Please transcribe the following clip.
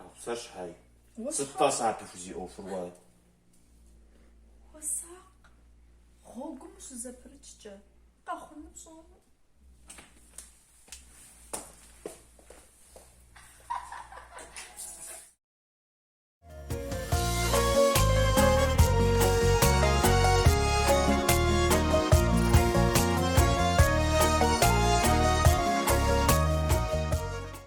Ахъшэ щхьэи. Сыт сэ апхуэдизу уэ? Хуэсакъ, гъуэгум ущызэпрыкӏкӏэ, къэхъуну пщӏэмэ.